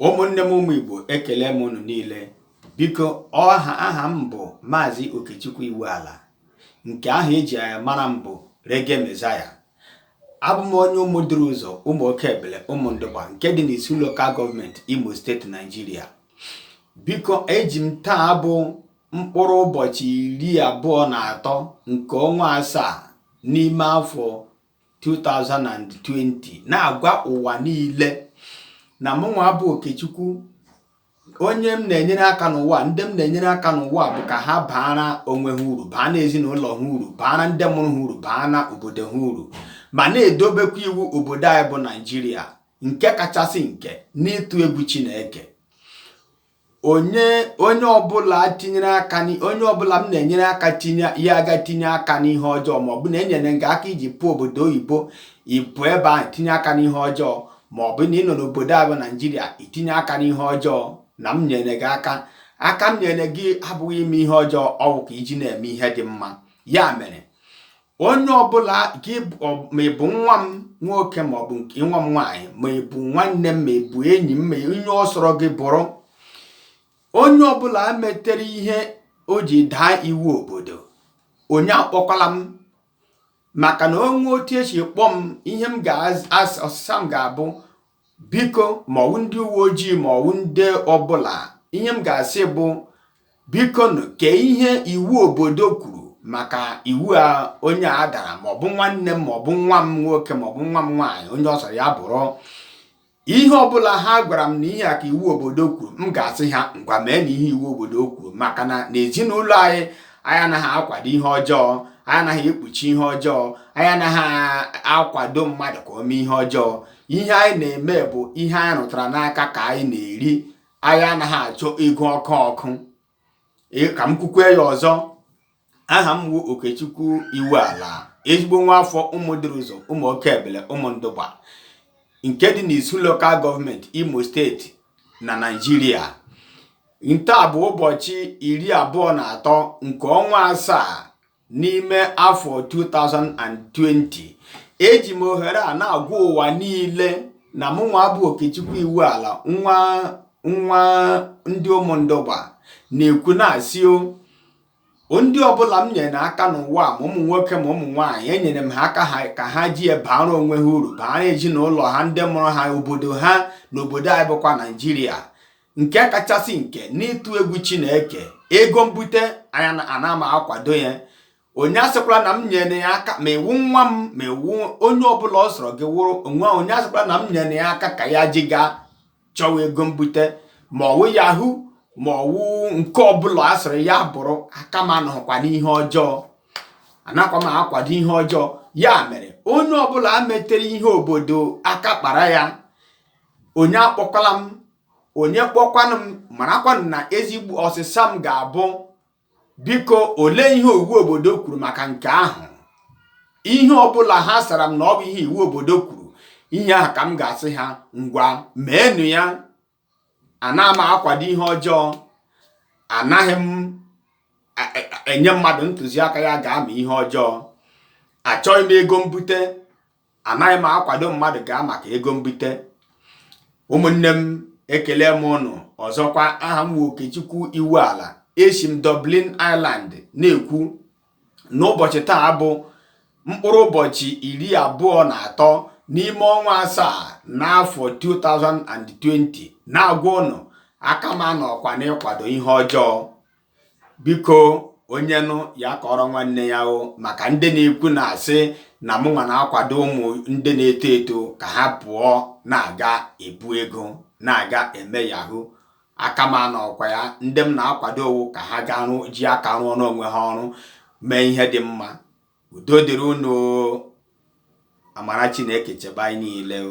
ụmụnne m ụmụ Igbo ekele m unu niile biko ọha aha m bụ Maazị Okechukwu Iwuala nke ahụ eji mara m bụ Reggae Messiah abụ m onye ụmụ duru ụzọ ụmụ oke ebele Ụmụndụgba nke dị n'Isu lokal gọọmenti Imo steeti Naijiria biko eji m taa bụ mkpụrụ ụbọchị iri abụọ na atọ nke ọnwa asaa n'ime afọ 2020 na-agwa ụwa niile na mụnwa bụ Okechukwu onye m na-enyere aka n'ụwa ndị m na-enyere aka n'ụwa bụ ka ha baara onwe ha uru baa na ezinụlọ ha uru baara ndị mụrụ ha uru baa na obodo ha uru ma na-edobekwa iwu obodo anyị bụ Naijiria nke kachasị nke n'ịtụ egwu Chineke onye onye ọbụla tinyere aka onye ọbụla m na-enyere aka tinye ya gaa tinye aka n'ihe ọjọọ ma ọ bụ na enyere gị aka iji pụọ obodo oyibo ịpụ ebe ahụ itinye aka n'ihe ọjọọ ma ọ bụ na ị nọ n'obodo a bụ naijiria itinye aka n'ihe ọjọọ na m nyere gị aka aka m nyere gị abụghị ime ihe ọjọọ ọwụ ka iji na-eme ihe dị mma ya mere onye ọbụla gị ma ị bụ nwa m nwoke ma ọ bụ nke nwa m nwaanyị ma ị bụ nwanne m ma ị bụ enyi m ma onye ọ sọrọ gị bụrụ onye ọbụla metere ihe o ji daa iwu obodo onye akpọkwala m maka na o nwee otu esi kpọọ m ihe m ọsịsa m ga-abụ biko ma ọwụ ndị uwe ojii ma ọwụ ndị ọbụla ihe m ga-asị bụ bikonụ kee ihe iwu obodo kwuru maka iwu a onye a dara maọbụ nwanne m maọbụ nwa m nwoke maọbụ nwa m nwaanyị onye ọ sọrọ ya bụrụ ihe ọbụla ha gwara m na ihe a ka iwu obodo kwuru m ga-asị ha ngwa meenụ ihe iwu obodo kwuru maka na n'ezinụlọ anyị anyị anaghị akwado ihe ọjọọ anyị anaghị ekpuchi ihe ọjọọ anyị anaghị akwado mmadụ ka o mee ihe ọjọọ ihe anyị na-eme bụ ihe anyị rụtara n'aka ka anyị na-eri anyị anaghị achọ ego ọkụ ọkụ ka m kwukwe ya ọzọ aha m wu okechukwu iwuala ezigbo nwa afọ ụmụ duru ụzọ ụmụ oke ebele ụmụndụgba nke dị n'isu lokal gọọmenti imo steeti na naijiria nta bụ ụbọchị iri abụọ na atọ nke ọnwa asaa n'ime afọ 2020 eji m ohere a na-agwa ụwa niile na mụnwa bụ Okechukwu Iwuala nwa ndị ụmụndụgba na-ekwu na-asị o ndị ọbụla m nyere aka n'ụwa ma ụmụ nwoke ma ụmụ nwaanyị enyere m ha aka ka ha ji baara onwe ha uru baara ezinụlọ ha ndị mụrụ ha obodo ha na obodo anyị bụkwa naijiria nke kachasị nke n'ịtụ egwu chineke ego mbute anya ana m akwado ya onye asịkwala na m nyere ya aka ma ị wụ nwa m ma ị wụ onye ọbụla ọ sọrọ gị wụrụ nwa onye asịkwala na m nyere ya aka ka ya ji gaa chọwa ego mbute ma ọ wụ yahoo ma ọ wụ nke ọbụla ọ sọrọ ya bụrụ aka m anọọkwa n'ihe ọjọọ anakwa m akwado ihe ọjọọ ya mere onye ọbụla metere ihe obodo aka kpara ya onye akpọkwala m onye kpọkwanụ m marakwanụ na ezigbo ọsịsa m ga-abụ biko olee ihe iwu obodo kwuru maka nke ahụ ihe ọbụla ha sara m na ọ bụ ihe iwu obodo kwuru ihe ahụ ka m ga-asị ha ngwa meenụ ya ana m akwado ihe ọjọọ anaghị m e, e, enye mmadụ ntụziaka ya gaa mee ihe ọjọọ achọghị m ego mbute anaghị m akwado mmadụ gaa maka ego mbute ụmụnne m ekele m ụnụ ọzọkwa aha m wụ Okechukwu Iwuala esi m Dublin Ireland na-ekwu n'ụbọchị taa bụ mkpụrụ ụbọchị iri abụọ na atọ n'ime ọnwa asaa n'afọ 2020 na-agwa ụnụ aka m anọọkwa n'ịkwado ihe ọjọọ biko onye nụ ya kọrọ nwanne ya o maka ndị na-ekwu na-asị na mụnwa na-akwado ụmụ ndị na-eto eto ka ha pụọ na-aga ebu ego na-aga eme yahoo aka m anọọkwa ya ndị m na-akwado ọ wụ ka ha gaa rụ ji aka rụọ n'onwe ha ọrụ mee ihe dị mma udo dịrị unu amara chineke chebe anyị niile o